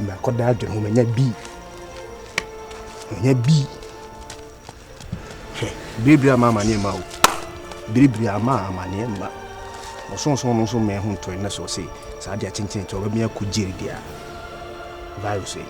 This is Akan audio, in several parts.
Mɛkɔda adwene ho manya bi. Manya bi. Hwɛ, biribiri ama amaneɛ ma o. Biribiri ama amaneɛ ma. Ɔsonson no nso mmɛn ho ntɔe na sɛ ɔse saa adeɛ akyentene nti ɔbɛmi akɔ gyeri deɛ a. Virus yi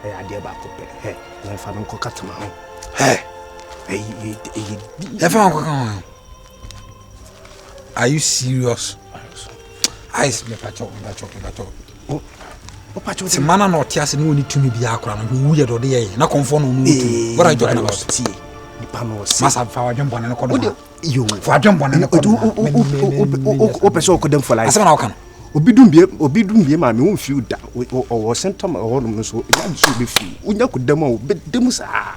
ɛyɛ adeɛ baako pɛ. Hɛ, yɛmfa no nkɔka tama ho. Hɛ, ɛyɛ ɛyɛ. Yɛmfa no nkɔka ho. Are you serious? Ice me pacho, me pacho, me pacho. Oh. Ti mana na ɔte ase na ɔni tumi bi akora no wu yɛ dɔde yɛ na kɔnfɔ na ɔno tumi. What are you talking about? Tie. Nipa na ɔsi. Masa fa wadwen bɔne no kɔ do. Wode yo. Fa wadwen bɔne no kɔ do. O pɛ sɛ ɔkɔ dɛm fɔlaa. Asɛm na ɔka no. Obi dum bie obi dum bie maa mi wɔn fi da ɔwɔ sɛntɛm ɛhɔ nom no so ɛyà nso obi fi wonya kɔ dɛm a obi dɛm saa.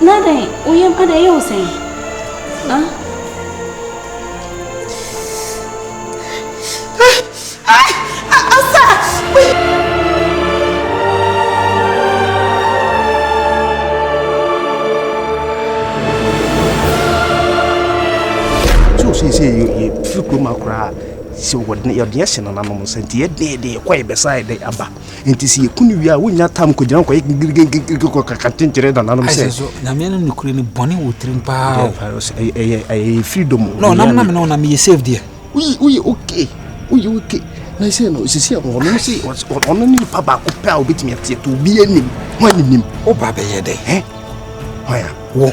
Na dɛn, wo yam ada yɛ wo sɛn? firi kurom a koraa sɛ yɛde ahyɛ nananom nsa nti yɛdɛɛdɛ yɛkɔ yɛbɛsa yɛde aba Enti sɛ yɛku no wie a, wonnya tam nkɔgyina kɔyɛ gigirigigirigiri kɔkaka ntenkyerɛ nananom sɛ. Ɛsɛ so nyame no nokorɛ no bɔne wɔ tirim paa o. Ɛyɛ freedom o. No, nam nam no na meyɛ safe deɛ. Woyɛ woyɛ okay woyɛ okay na sɛ no sisi a ɔno no se ɔno ne nipa baako pɛ a obetumi ate ɛto obi anim ho anim. Wo ba bɛyɛ dɛ. Hwan a? Wo.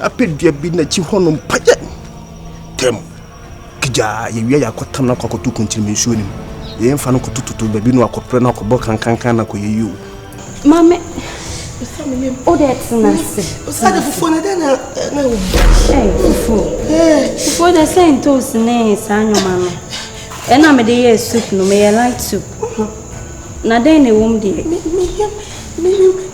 Apɛ dua bi n'akyi hɔ nom pa yɛ tɛm kigyaa yɛwia yɛ akɔtam no akɔ akɔto kunkyerem nsuo no mu yɛn fa no kɔtototo baabi no akɔprɛ no akɔbɔ kankankan no akɔyɛ yio. Maame o de tena ase. Osade fufuo na dɛn na na o. Ɛɛ fufuo fufuo de sɛ ntoos ne saa nneɛma no ɛna mede yɛ soup no meyɛ light soup na dɛn na ɛwɔ mu deɛ.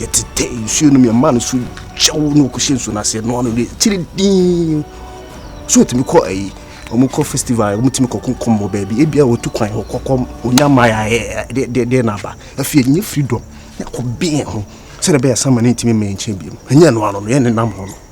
yɛtetɛ nsuo nom yɛma no so kyɛw na ɔkɔhyɛ nsuo no aseɛ noa no de kyere din so ɔtumi kɔ ayi wɔn kɔ festival wɔn tumi kɔ kɔnkɔn wɔ baabi ebi a wɔtu kwan hɔ kɔkɔ onya maya ɛ de de de n'aba afei ɛnyɛ freedom yɛkɔ bɛn ho sɛdeɛ bɛyɛ sama ne ntumi mmɛn nkyɛn bi mu ɛnyɛ noa no no yɛn nenam hɔ no.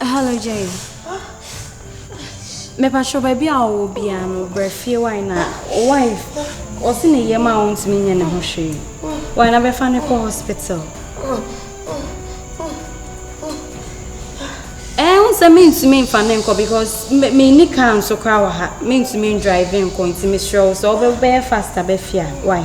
Hello Jay. Me pa sho baby a wo bia no bre fie wai na wife o se ne yema o ntimi nye ne ho hwe. Wai na be fa ne ko hospital. Eh un se me ntimi fa ne nko because me me ni car nso kra wa ha. Me ntimi drive nko ntimi srew so obe be faster be fia. Wai?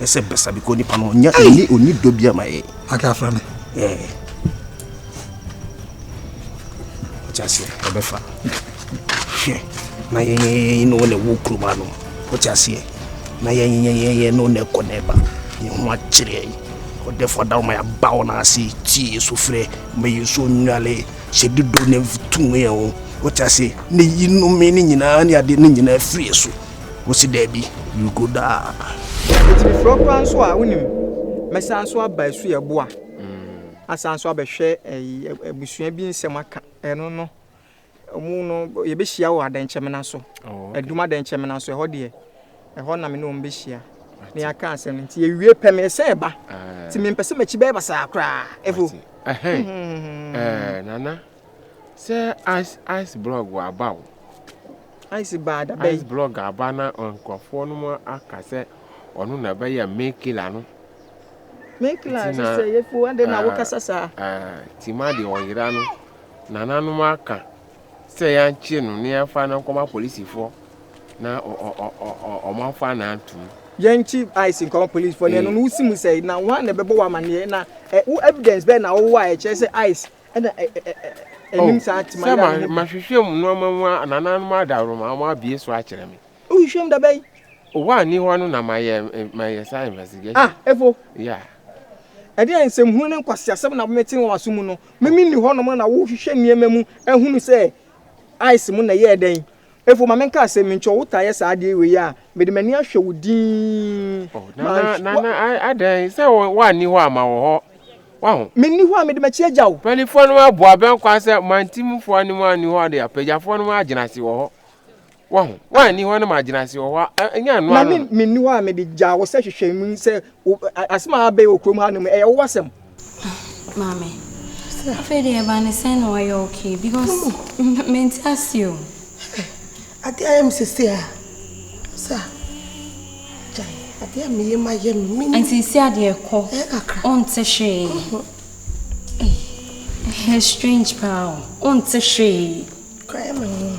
ɛsɛ bɛsa bi kɔ nipa no ɔnya ɔni ɔni dɔ bi ama yɛ. ake afra mi. ɛɛ ɔkya se ɔbɛfa hwɛ na yɛn yɛn yɛn no na ɛwɔ kurom ano ɔkya seɛ na yɛn yɛn yɛn yɛn no na ɛkɔ na ɛba yɛn ho akyerɛ yɛn ɔdɛfo adaw ma yɛaba wɔn ase tie yɛ so frɛ ma yɛ so nnwale hyɛ dodo na tum yɛn ho ɔkya se ne yinom ne nyinaa ne ade ne nyinaa firi yɛ so. Wose daabi, merekɔ daa. Metumi frɛ wo koraa nso a wonim. Mɛsan nso aba asu ɛboa. Asan nso abɛhwɛ ɛyi abusua bi nsɛm aka. Ɛno no, ɔmo no yɛbɛhyia wɔ adɛnkyɛmena so. Adum adɛnkyɛmena so ɛhɔ deɛ, ɛhɔ na me ne wɔn bɛhyia. Ne yɛaka asɛm nti yɛwie pɛ mesan ɛba. Nti mempɛ sɛ m'akyi bɛyɛ basaa koraa. Efo. Ɛhɛn. Ɛɛ Nana. Sɛ ice ice block wɔ aba o. Ice baa da bɛn. Ice block aba na nkurɔfoɔ no mu aka sɛ ɔno na ɛbɛyɛ main killer no. Main killer no sɛ yɛ fo ade na wokasa saa. Tima deɛ ɔyera no nananom aka sɛ yɛnkye no na yɛmfa no nkɔma polisifoɔ na ɔmo afa na antum. Yɛnkye ice nkɔma polisifoɔ na ɛno no wosi mu sɛ na wɔn na ɛbɛbɔ wɔ amaneɛ na wo evidence bɛn na wowɔ a ɛkyerɛ sɛ ice ɛna ɛnim saa te ma yɛ ano. Sɛ mahwehwɛ mu nneɛma mu a nananom adaworoma wɔn abie so akyerɛ me. Wohwehwɛ mu dabɛn? Owó a ni hɔ no na mayɛ mayɛ saa investigation. Ah, efo. Yeah. Ɛde a nsɛmhunu ne nkwaseasɛm na mete wɔn aso mu no, mimi ni hɔnom na wohwehwɛ nneɛma mu ahunu sɛ ice mu na ɛyɛɛ dɛn. Efo, ma menka se, menkyɛ wo taa yɛ saa adeɛ wei a, mede m'ani ahwɛ wo dinn. Oh, Nana, Nana, adɛn? Sɛ woanni hɔ a, ma wɔ hɔ. Waho? Menni hɔ a, mede m'akyi agya wo. Mpaninfoɔ no abu abɛn kwan sɛ mantimfoɔ anim anni hɔ de apagyafoɔ no agyina ase wɔ hɔ. Waho? Woanni hɔ na magyina ase wɔ hɔ a, ɛnyɛ ɛno ano no. Na me, menni hɔ a, mede gyaa wo sɛ hwehwɛ mu sɛ Asɛm a abɛyɛ wɔ kurom ha nom ɛyɛ wo asɛm. Maame, afei deɛ ɛba ne sɛn na wayɛ okay because mente ase o. Adeɛ ayɛ me sese a, sa gyae adeɛ a meyɛ ma yɛ me mini. Nti si adeɛ kɔ, ɔnte hwee. Ɛyɛ strange paa o, ɔnte hwee. Kora yɛ me ho.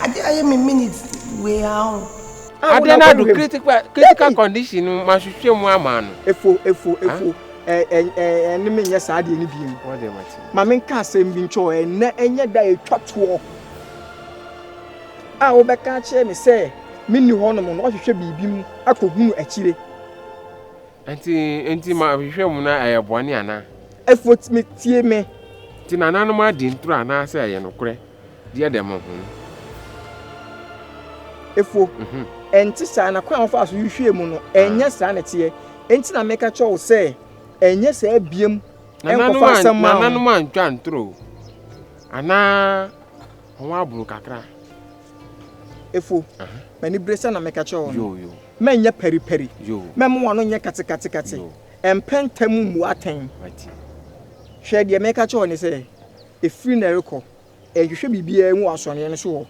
Ade ayɛ me minute wei ara o. Ah, Ade no ado critical critical condition no mahwehwɛ mu ama no. Efo efo efo ɛne me nyɛ saa deɛ no bi mu. Ma menka asɛm bi nkyɛ ɔ ɛnɛ ɛnyɛ da ɛtwa toɔ a wobɛka akyerɛ me sɛ menni hɔ nom no wahwehwɛ biribi mu akɔhunu akyire. Nti nti ma hwehwɛ mu na ɛyɛ bɔne anaa? Efo metie me. Nti nananom adi ntoro anaasɛ ɛyɛ nokorɛ? Deɛ dɛm ho hom. Efuo. Ɛnte saa, na kwan a wɔfaa so hwehwɛɛ mu no, ɛnyɛ saa na ɛteɛ. Enti na meka kyerɛ wo sɛ, Ɛnyɛ saa biom, nkɔfa asɛm mma wɔn. Nananom antwa ntoro anaa wɔaboro kakra. Efuo. M'anibere sɛ na meka kyerɛ wɔn no, mɛnyɛ paripari, mɛmma wɔn ano nyɛ katekatekate, ɛmpɛ ntɛm mmu atɛn. Hwɛ, deɛ meka kyerɛ wo ne sɛ, Ɛfiri nnɛ rekɔ, nhwehwɛ biribiara mu wɔ asɔreeɛ no so hɔ.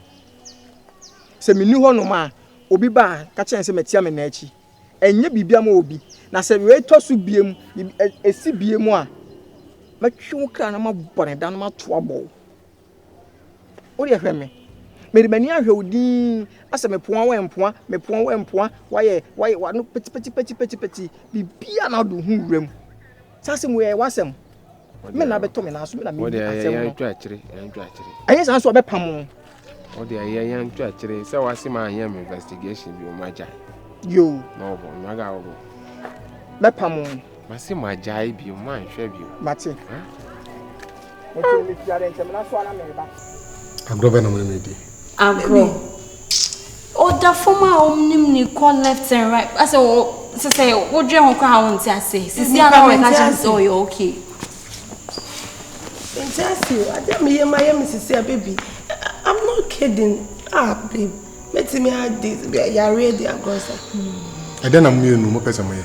Sɛ menni hɔnom a, obi ba a, ka kyerɛ no sɛ matia me nna akyi. Ɛnyɛ biribiara ma obi. Na sɛ wei tɔ so biom, ɛsi biom a, mɛtwe wo kra na mabɔ ne da na mato abɔ wo. Wo deɛ hwɛ me. Mede m'ani ahwɛ wo dinn asɛ mepoa wo mpoa, mepoa wo mpoa, wayɛ, wayɛ, wano pɛtipɛtipɛtipɛtipɛti, biribiara na ado ho wuram. Saa asɛm wei ɛyɛ w'asɛm. me na bɛtɔ me nan so me na me ni asɛm no yɛntwa akyire yɛntwa akyire ɛnyɛ saa nso ɔbɛpa mo o de ɛyɛ yɛntwa akyire sɛ wase ma anyɛ me investigation bi ɔmo agya yo na ɔbɔ ɔmo aga ɔbɔ bɛpa mo mase ma agya yi bi ɔmo anhwɛ bi mate agorɔ bɛ na mo ne me di Agorɔ. Ɔda fam a wɔnim no kɔ left and right. Asɛ wɔ sɛ sɛ wodwene ho koraa wonte ase. Sisi a na wɔka kyerɛ sɛ ɔyɛ okay. Nti ase o, ade a meyɛ ma yɛ me sisi a baby. I'm not kidding. Ah babe, mɛtumi adi yareɛ di agorɔ sa. Ɛdɛn na mo mmienu mopɛ sɛ moyɛ?